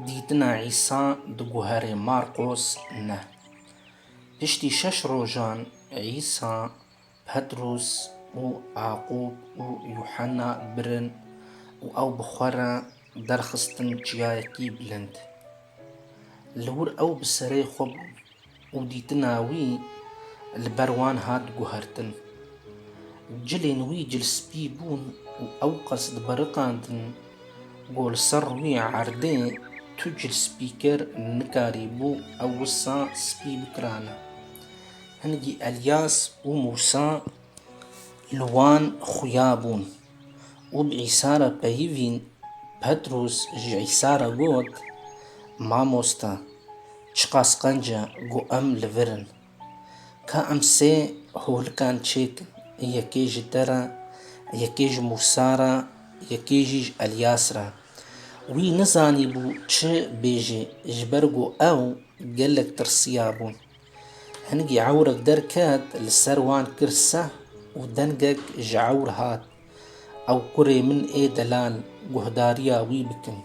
Dîtina Îsa di guherê Marqos ne. Piştî şeş rojan Îsa, Petrus û Aqûb û Yuhena birin û ew bi xwe re derxistin çiyayekî bilind. Li wir ew bi serê xwe bûn. û dîtina wî li ber wan hat guhertin. Cilên wî cilspî bûn û ewqas dibiriqandin ku li ser rûyê erdê tu cilspîker nikarîbû ew wisa spî bikirane. Hingî Elyas û Mûsa li wan xuya bûn. Û bi Îsa re peyivîn, Petrûs ji Îsa re got, Mamoste, çiqas qenc e ku em li vir in! Ka em sê holikan çêk, yekê ji te re, yekê ji Mûsa re, yekê jî ji Elyas re. Wî nizanîbû çi bêjê, ji ber ku ew gelek tirsiyabû. Hingî ewrek derket, li ser wan kir seh û dengek ji ewr hat, Ew kurê min ê delal, guhdarîya wî bikin.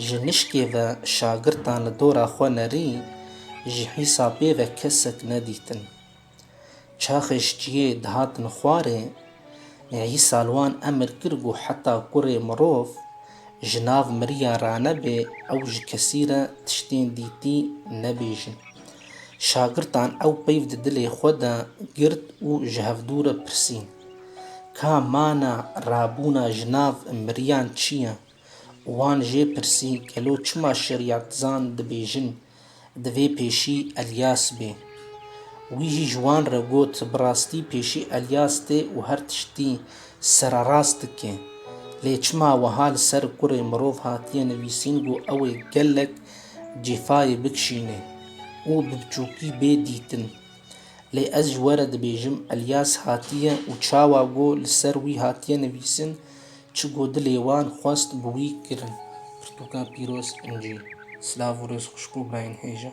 Ji nişkê ve şagirtan li dora xwe nerî, ji hîsapê ve kesek nedîtin. Çaxê ştiyê dihatin xwarê, Îsa li wan emir kir ku heta kurê mirov ji nav miriya ranebê ew ji kesî re tiştên dîtî nebêjin. Şagirtan ew peyv di dilê xwe de girt û ji hevdû re pirsîn, Ka mana rabûna ji nav miriyan çi ye? Wan jê pirsî, Gelo çima şerîatizan dibêjin Divê pêşî Elyas bê. Wî jî ji wan re got, Bi rastî pêşî Elyas tê û her tiştî sererast dike. Lê çima wiha li ser kurê mirov hatiye nivîsîn ku ew ê gelek cêfayê bikişîne û bi biçûkî bê dîtin? Lê ez ji we re dibêjim Elyas hatiye û çawa ku li ser wî hatiye nivîsin Çi ku dilê wan xwest bi wî kirin. Pirtûka pîroz, incî. Silav û rêz xwişk û birayên hêja.